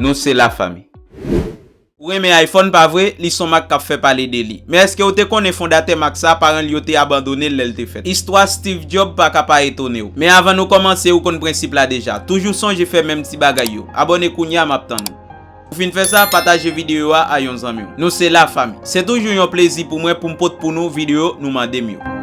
Nou se la fami. Ou renmen iPhone pa vre, li son mak kap fè pale de li. Men eske ou te konnen fondatè mak sa, paran li yo te abandone l lè l te fèt. Istwa Steve Job pa ka pa etone w. Men avan nou kòmanse ou konn prensip la deja. Toujou sonje fè menm ti bagay yo. Abòne kounya map tann ou. Ou fin fè sa, pataje videyo a a yon zanmi w. Nou se la fami. Se toujou yon plezi pou mwen pou m pot pou nou videyo nou mande m yo.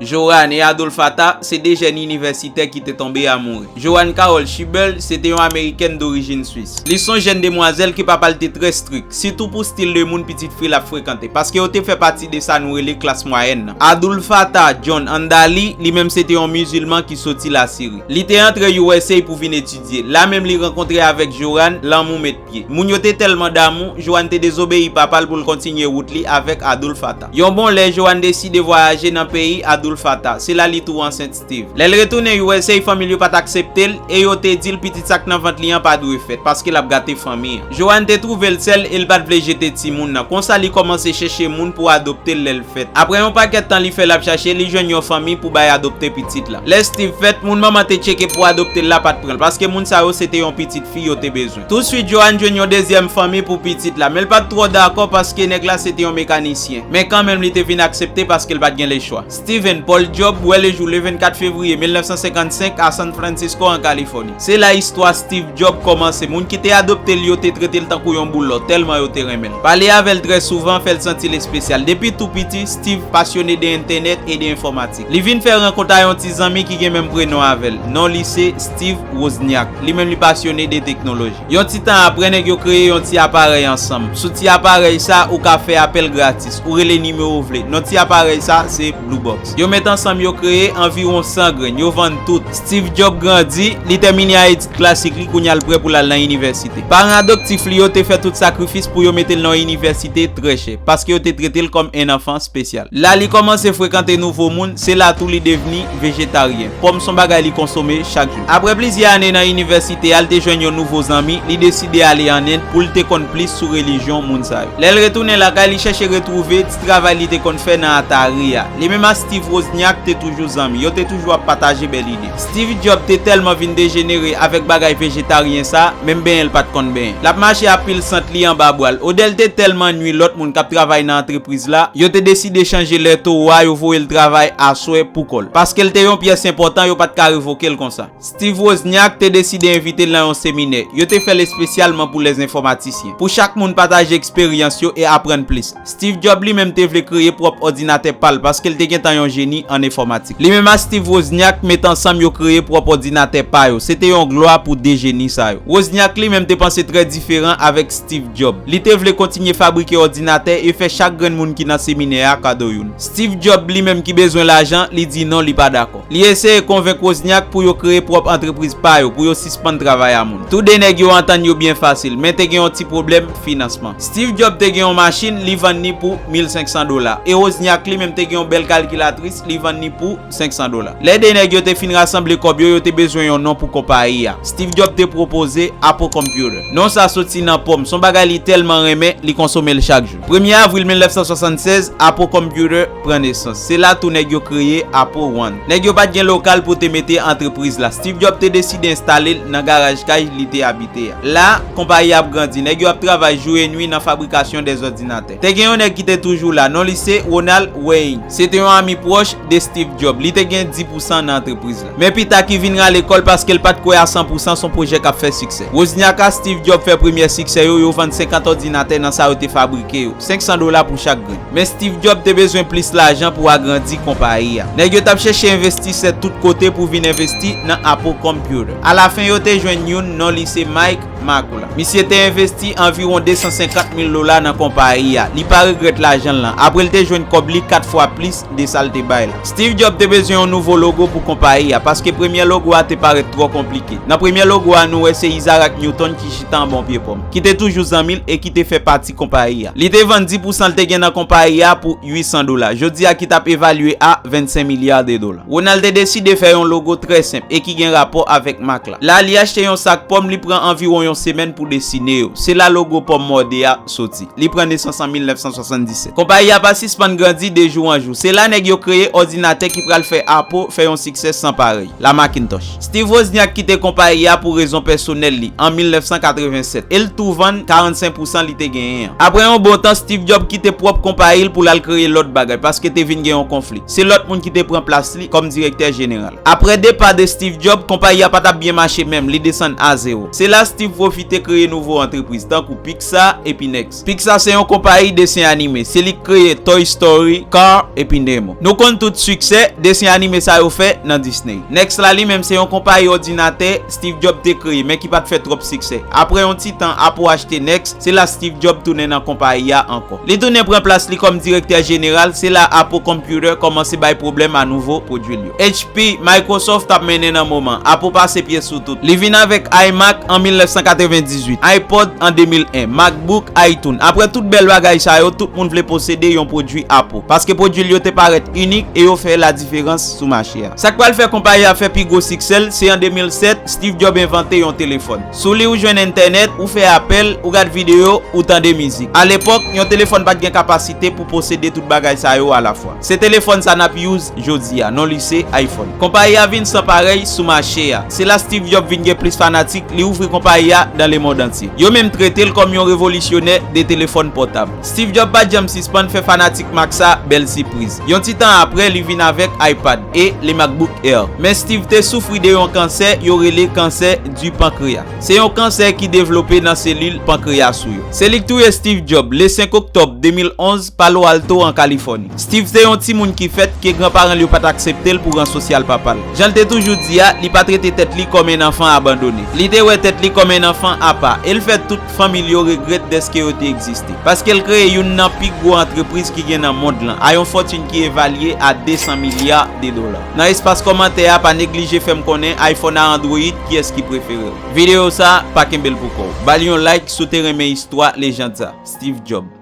Jorane Adolphe Attah se 2 jèn inivèsitè ki te tonbe a mouri. Joan Carol Schibel se te yon Amerikèn dorijin Swis. Li s on jèn demwazèl ke papa l te trè strik, sitou pou stil de moun pitit fi l ap frekante, paske yo te fè pati de sa nou rele klas mwayèn nan. Adoulfattah John Andali, li menm se te yon mizilman ki soti Lasiri. Li te antre usa pou vin etidye. La menm li rankontre avèk Joan, lanmou met. Moun yo te tèlman damou, Joan te dezobeyi papa l pou l kontinye wout li avèk Adoulfata. Yon bon lè, Joan deside vwayaje nan peyi Adoulfata. Se la li tou ansent Steve. Lè l retounen usa, fanmi l yo pa t aksepte l e yo te di l pitit sa k nan vant li an pa dwe fèt, paske l ap gate fanmi an. Joan te twouve l sèl e l pa t vle jete timoun nan. Konsa li kòmanse chèche moun pou adopte l lè l. fèt. Apre yon pakèt tan li fè l ap chache, li jwenn yon fanmi pou bay adopte pitit la. Lè Steve fèt, moun manman te tcheke pou adopte l la pa t pran l, paske moun sa yo se te yon pitit fi yo te bezwen. Tousuit, Joan jwenn yon dezyèm fanmi pou pitit la, men l pa t twò dakò paske nèg la se te yon mekanisyen. Men kanmenm li te vin aksepte paske l pa t gen lechwa. Steven, Paul Job, wè lejou le 24 fevriye 1955 a San Francisco, an Kalifòni. Se la istwa Steve Jobs kòmanse. Moun ki te adopte l yo te trete l tankou yon boul lò, tèlman yo te renmen l. Pale avè l trè souvan fè l santi l espesyal. Depi tou piti, Steve pasyone de entènèt e de enfòmatik. Li vin fè rankont a yon ti zanmi ki gen menm prenon avè l. Non li se Steve Wozniak. Li menm li pasyone de teknoloji. Yon ti tan apre, nèg yo kreye yon ti aparèy ansanm. Sou ti aparèy sa, ou ka fè apèl gratis. Ou rele nimewo w vle. Non ti aparèy sa, se Blue Box. Yo met ansanm yo kreye anviwon 100 grenn. Yo vann tout. Steve Job grandi, li tèmine a etid klasik li, kounye a l prè pou l al nan inivèsite. Paran adoptif li yo te fè tout sakrifis pou yo mete l nan yon inivèsite trè chè, paske yo te trete l kòm 1 anfan spesyal. La li kòmanse frekante nouvo moun, se la tou li devni vejetaryen. Pòm s on bagay li konsome chak jou. Aprè plizyè ane nan inivèsite a, l te jwenn yon nouvo zanmi, li deside ale an End pou l te konn plis sou relijyon moun sa yo. Lè l retounen lakay, li chèche retwouve. travay li te konn fè nan Atari a. Li menm ak Steve Wozniak te toujou zanmi. Yo te toujou ap pataje bèl ide. Steve Jobs te tèlman vin dejenere avèk bagay vejetaryen sa, menm benyen l pa t konn benyen. L ap mache a pil sant li anba bwa l. Odè l te tèlman nui lòt moun k ap travay nan antrepriz la, yo te deside chanje lè towo a, yo voye l travay aswè pou kò l. Paske l te yon pyès enpòtan, yo pa t ka revoke l konsa. Steve Wozniak te deside envite l nan yon seminè. Yo te fè l espesyalman pou lèzenfòmatisyen, pou chak moun pataje eksperyans yo e aprann plis. Steve Job li menm te vle kreye pwòp òdinatè pa l paske l te gentan yon jeni an enfòmatik. Li menm ak Steve Wozniak met ansanm yo kreye pwòp òdinatè pa yo. Se te yon glwa pou de jeni sa yo. Wozniak li menm te panse trè diferan avèk Steve Job. Li te vle kontinye fabrike òdinatè e fè chak grenn moun ki nan seminè a kado youn. Steve Job li menm ki bezwen lajan, li di non, li pa dakò. Li eseye konvenk Wozniak pou yo kreye pwòp antrepriz pa yo, pou yo sispann travay a moun. Tou de nèg yo antann yo byen fasil, men te gen yon ti pwoblèm finansman. Steve Jobs te gen yon machin, li vann ni pou 1500 dola, e Wozniak li menm te gen yon bèl kalkilatris, li vann ni pou 500 dola. Lè de nèg yo te fin rasanble kòb yo, yo te bezwen yon non pou konpayi a. Steve Jobs te pwopoze Apple Computer. Non sa soti nan po m. S on bagay li tèlman renmen, li konsome l chak jou. Premye avril 1976, Apo Computer pran nesans. Se la tou nèg yo kreye Apo One. Nèg yo pa t gen lokal pou te mete antrepriz la. Steve Jobs te deside enstale l nan garaj kay li te abite a. La, konpayi a ap grandi. Nèg yo ap travay jou e nwi nan fabrikasyon dè zòdinatè. Te gen yon nèg ki te toujou la. Non li se Ronald Wayne. Se te yon ami pwòch de Steve Jobs. Li te gen di pousan nan antrepriz la. Men pita ki vin rale kò l paske l pa t kwè a san pou san son pwojè k ap fè siksè. Wozniak ak Steve Jobs fè premyè siksè yo, yo vann 50 òdinatè nan sa yo te fabrike yo, 500 dola pou chak grenn. Men Steve Jobs te bezwen plis lajan pou agrandi konpayi a. Nèg yo t ap chèche envestisè tout kote pou vin envesti nan Apple Computer. Alafen yo te jwenn youn, non li se Mike Makula. Misye te envesti anviwon 250 mil dola nan konpayi a. Li pa regrèt lajan l lan, apre l te jwenn kòb li 4 fwa plis de sa l te bay la. Steve Jobs te bezwen yon nouvo logo pou konpayi a, paske premye logo a te parèt twò konplike. Nan premye logo a nou wè se Isaac Newton ki chita anba yon pye pòm, ki te toujou zanmi l e ki te fè pati konpayi a. Li te vann di pousan l te gen nan konpayi a pou 800 dola, jodi a ki t ap evalye a 25 milya de dola. Ronald te deside fè yon logo trè senp e ki gen rapò avèk mak la. La li achte yon sak pòm li pran anviwon yon semèn pou desine yo. Se la logo pòm mòde a soti. Li pran nesans an 1977. Konpayi a pa sispann grandi de jou an jou. Se la nèg yo kreye òdinatè ki pral fè Apple fè yon siksè san parèy, la Macintosh. Steve Wozniak kite konpayi a pou rezon pèsonèl li an 1987 e l tou vann 45 pousan li te genyen an. Apre yon bon tan, Steve Jobs kite pwòp konpayi l pou l al kreye lòt bagay paske te vin gen yon konfli. Se lòt moun ki te pran plas li kòm direktè jeneral. Apre depa de Steve Jobs, konpayi a pa t ap byen mache menm, li desann a zewo. Se la Steve pwofite kreye nouvo antrepriz tankou Pix, Pixar epi Next. Pixar se yon konpayi desen anime. Se li k kreye Toy Story, Car epi Nemo. Nou konn tout siksè desen anime sa yo fè nan Disney. Next la li menm se yon konpayi òdinatè Steve Jobs te kreye men ki pat fè twòp siksè. Aprè yon ti tan Apple achte Next, se la Steve Jobs tounen nan konpayi a ankò. Li tounen pran plas li kòm direktè jeneral, se la Apple Computer kòmanse bay pwoblèm a nouvo pwodwi l yo. HP, Microsoft ap mennen nan moman. Apple pase pye sou tout. Li vin avèk iMac an 1998, iPod an 2001, MacBook, iTunes. Aprè tout bèl bagay sa yo, tout moun vle posede yon pwodui Apple. Paske pwodui l yo te parèt inik e yo fè ladiferans sou mache a. Sa k pral fè konpayi a fè pi gwo siksè l, se an 2007, Steve Jobs envante yon telefòn. Sou li ou jwenn entènèt, ou fè apèl, ou gad videyo, ou tande mizik. Alepòk, yon telefòn pa t gen kapasite pou posede tout bagay sa yo alafwa. Se telefòn sa n ap. jodi a, non li se iPhone. Konpayi a vin san parèy sou mache a. Se la Steve Job vin gen plis fanatik, li ouvri konpayi a dan lemond antye. Yo menm trete l kòm yon revolisyonè de telefòn pòtab. Steve Job pa t janm sispann fè fanatik mak sa bèl sipriz. Yon ti tan apre, li vin avèk iPad e le MacBook Air. Men Steve te soufri de yon kansè yo rele kansè du pankreya. Se yon kansè ki devlope nan selil pankreyas ou yo. Se li k touye Steve Job le 5 oktòb 2011. Palo Alto, an Kalifòni. Steve te yon timoun ki fèt ke granparan l yo pa t aksepte l pou ran sosyal papa l. Jan l te toujou di a, li pa trete tèt li kòm en anfan abandone. Li te wè tèt li kòm en anfan apa, e l fè tout fanmi l yo regrèt dèske yo te egziste. Paske l kreye youn nan pi gwo antrepriz ki gen nan mond lan, a yon fòtin ki evalye a 200 milya de dola. Nan espas kòmantè a, pa neglije fè m konnen iPhone a Android, kiyès ki prefere w. Videyo sa, pa kenbe l pou kò w. Ba l yon like si w te renmen istwa lejand sa, Steve Jobs.